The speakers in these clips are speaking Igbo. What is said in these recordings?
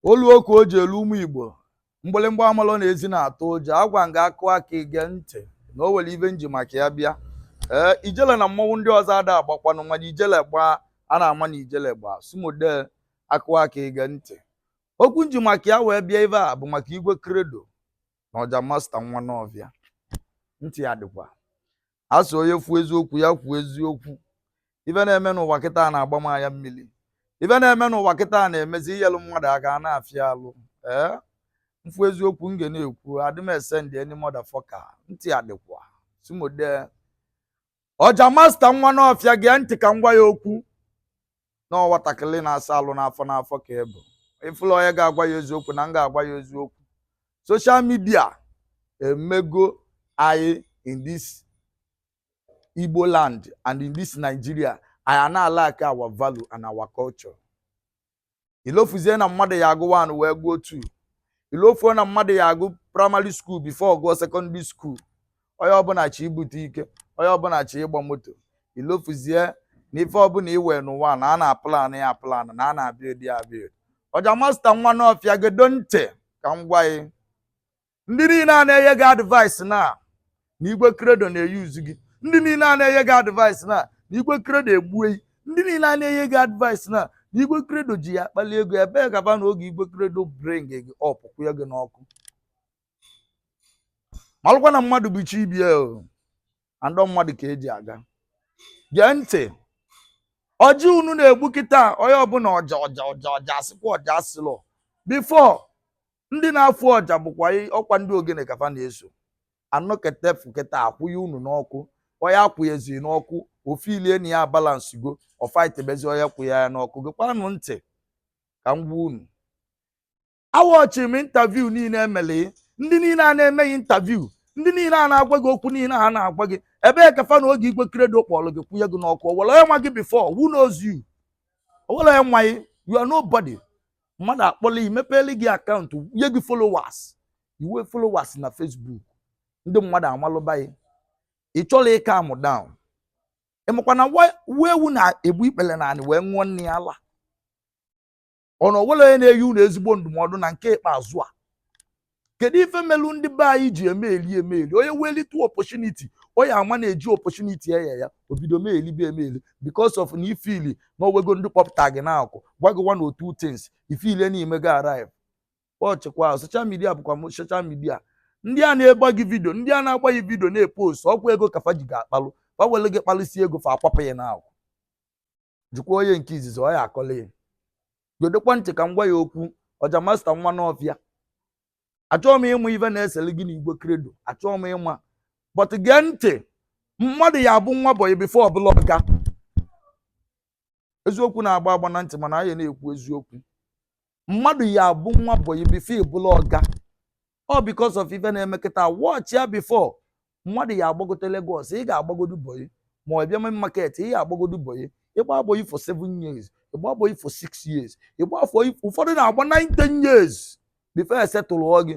olu oku o ji elu ụmụ igbo mgbịlịmgba amalọ na ezi na-atụ ụjọ agwa nga a kụọ aka i gee ntị na o nwere ife m ji maka ya bịa ee ijele na mmọnwụ ndị ọzọ ada agbakwanụ mana ijele gbaa a na-ama na ijele gbaa sumode a kụọ aka i gee ntị okwu m ji maka ya wee bịa ebe a bụ maka Igwe Credo na Ọja Master nwa Nawfia ntị ya dịkwa a sị onye fụ eziokwu ya kwuo eziokwu ife na-eme n'ụwa kịtaa na-agba m anya mmiri ife na-eme n'ụwa kịtaa na-emezi inyelụ mmadụ aka a na-afịa alụ ee m fụ eziokwu m ga na-ekwu adị m esend any motherfucker ntị ya dịkwa sumode Ọja Master nwa Nawfia gee ntị ka m gwa ya okwu na nwatakịrị na-asa alụ n'afọ n'afọ ka ị bụ ị fụla onye ga-agwa gị eziokwu na m ga-agwa gị eziokwu social media emego anyị in this Igbo land and in this Nigeria anyị na-alack our value and our culture i lofuzie na mmadụ ya-agụ one wee gụọ two i lofuo na mmadụ ya-agụ primary school before gụọ secondary school onye ọbụla chọ ibute ike onye ọbụla chọ ịgba moto i lofuzie na ife ọbụla i nwe n'ụwa na a na-aplan ya aplan na a na-abuild ya abuild Ọja Master nwa Nawfia gedo ntị ka m gwa gị ndị niile a na-enye gị advice na na Igwe Credo na-euse gị ndị niile a na-enye gị advice na na Igwe Credo egbue gị ndị niile a na-enye gị advice na na Igwe Credo ji gị akpali ego ebee ka fa nọ oge Igwe Credo bring gị up kwụnye gị n'ọkụ malụkwa na mmadụ bụ chi ibe ya o and mmadụ ka e ji aga gee ntị ọja unu na-egbu kịta onye ọbụla ọja ọja ọja ọja asịkwa ọja asịlọ before ndị na-afụ ọja bụkwa i- ọkwa ndị ogene ka fa na-eso anọkete fụketa a kwụnye unu n'ọkụ onye a kwụnyezi n'ọkụ o feelie na ya abalancego ọ fightebezi onye kwụnye ya n'ọkụ gekwanụ ntị ka m gwa unu awatchiri m interview niile e mere ndị niile a na-eme gị interview ndị niile a na-agwa gị okwu niile ha na-agwa gị ebee ka fa nọ oge Igwe Credo kpọrọ gị kwụnye gị n'ọkụ o nwere onye ma gị before who knows you o nwere onye ma gị you are nobody mmadụ akpọla gị mepeele gị account nye gị followers i nwee followers na Facebook ndị mmadụ amalụba gị ị chọrọ ịcalm down ị makwa na nwa ewu na-egbu ikpere na anị wee ṅụọ nne ya ala ọ na onwere onye na-enye unu ezigbo ndụmọdụ na nke ikpeazụ a kedu ife melu ndị be anyị ji emeli emeli onye welite opportunity onye ama na-eji opportunity enye ya obido meelibe emeli because of na ị feel na o nwego ndị kpọpụta gị n'akụkụ gwa gị one or two things ị feel na ị mego arrive watchkwa social media bụkwa social media ndị a na-agba gị vidio ndị a na-agba gị vidio na-epost ọkwa ego ka fa ji gị akpalụ fa were gị kpalụsi ego fa akwapụ gị n'akụkụ jụkwa onye nke izizi ọ ya akọla ya gedokwa ntị ka m gwa ya okwu ọja Master nwa Nawfia achọghị m ịma ife na-esere gị na Igwe Credo achọghị m ịma but gee ntị mmadụ ya abụ nwa bọyị before ọ bụlụ ọga eziokwu na-agba agba na ntị mana anyị na-ekwu eziokwu mmadụ ya abụ nwa bọyị before ọ bụlụ ọga ọ because of ife na-eme kịta watch ya before mmadụ ya agbagote Lagos ị ga-agbagodu bọyị ma ọ bịa main market ị ga-agbagodu bọyị ịgba bọyị for seven years ịgba bọyị for six years ịgba for ụfọdụ na-agba nine ten years before e settle gị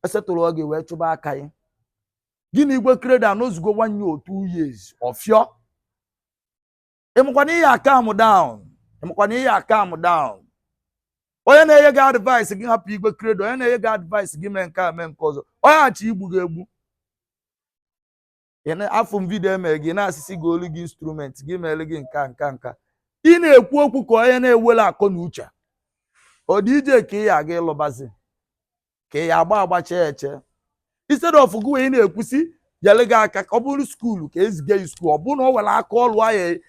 e settle gị wee chụba aka gị gị na Igwe Credo anọzugo one year or two years ọfịọ ị makwa na ị ya-acalm down ị makwa na ị ya-acalm down onye na-enye gị advice gị hapụ Igwe Credo onye na-enye gị advice gị mee nke a mee nke ọzọ onye a chọ igbu gị egbu Ị na- afụ m vidio emere gị na-asị sị goolu gị instrument gị mere gị nka nka nka ị na-ekwu okwu ka onye na-enwerọ akọ na uche ọ DJ ka ị ya aga ịlụbazi ka ị ya agba agba chee eche instead of gị wee na-ekwu sị nyere gị aka ka ọ bụrụ skuulu ka eziga gị skuulu ọ bụrụ na ọ nwere aka ọrụ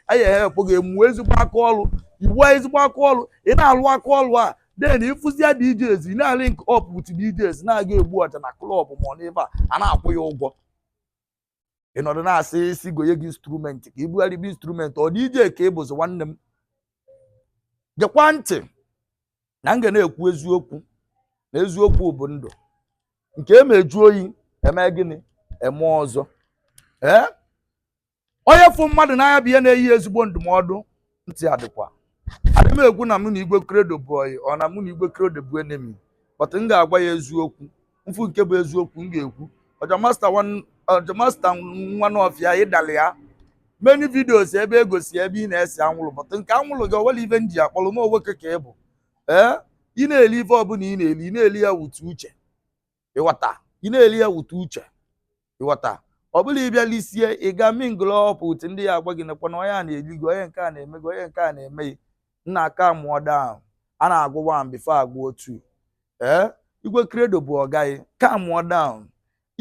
a ya-ehelpụ gị ị mụọ ezigbo aka ọrụ ị mụọ ezigbo aka ọrụ ị na-alụ aka ọrụ a then ịfụzia DJs ị na-alink up with DJs na-aga egbu ọja na klọb ma ọ n'ebe a a na-akwụ gị ụgwọ ị nọdụ na-asị sị gonye gị instrument ka ị bugharịba instrument ọ DJ ka ị bụzi nwanne m gekwa ntị na m ga na-ekwu eziokwu na eziokwu bụ ndụ nke e meju oyi eme gịnị eme ọzọ ee onye fụ mmadụ n'anya bụ ya na-enye ezigbo ndụmọdụ ntị adịkwa adị m ekwu na mụ na Igwe Credo bụ ọyị ọ na mụ na Igwe Credo bụ enemy but m ga-agwa ya eziokwu m fụ nke bụ eziokwu m ga-ekwu ọja Master nwan- Ọja Master nwa Nawfia ịdala ya many videos ebe egosi ebe ị na-ese anwụrụ but nke anwụrụ gị o nwerọ ife m ji akpọrọ nwoke ka ị bụ ee ị na-eli ife ọbụla ị na-eli ị na-eli ya with uche ịghọta ị na-eri ya wute uche ịghọta ọ bụla ịbịa lisie ị ga mingle up with ndị ya-agwa gị nekwa na onye a na-eli gị onye nke a na-eme gị onye nke a na-eme gị nna kamụọ down a na-agụ one before agụọ two ee igwe credo bụ ọga gị kamụọ down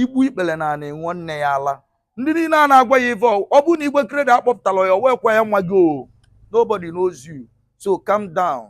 igbu ikpele n'ana enwe nne ya ala ndị niile a na-agwa gị ife ọ bụrụ na igwe credo akpọpụtara ya wee kwa ya nwa gị o nobody knows you so calm down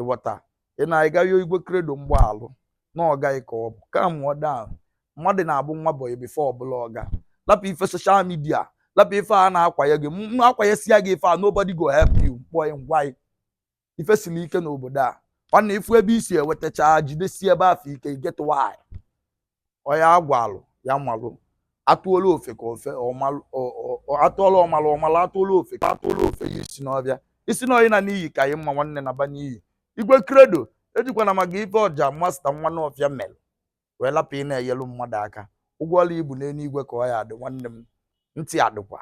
ịghọta ị na-aga yọọ igwe credo mgbaalụ na ọga gị ka ọ bụ kamụọ down mmadụ na-abụ nwa boy before ọ bụlụ ọga lapụ ife social media lapụ ife a na-akwanye gị ma akwanyesịa gị ife a nobody go help you m kpọọ gị m gwa gị ife siri ike n'obodo a nna ị fụ ebe i si ewetacha jidesie ebe afụ ike get why onye agwalụ ya malụ atụọlụ ofeke ofe atụọlụ ọmalụ ọ malụ atụọlụ ofeke atụọlụ o fenye isi n'ọfịa ị sị na ọ ịna n'iyi ka gị mma nwanne naba n'iyi igwe credo ejikwana maka ife ọja master nwa nawfia mere wee lapụ ịna-enyelu mmadụ aka ụgwọ ọrụ gị bụ n'eluigwe ka ọ ya adị nwanne m ntị adịkwa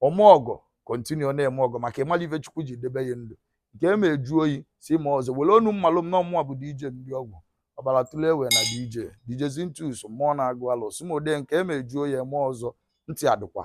ome ọgọ continue na-eme ọgọ maka ị marọ ife chukwu ji debe gị ndụ nke eme ejuo oyi si eme ọzọ were onu mmalụ m na ọmụwa bụ dj ndị ọgwụ ọbara tụle ewe na dj dj zintus mmụọ na-agụ alụ sumode nke eme ejuo oyi eme ọzọ ntị adịkwa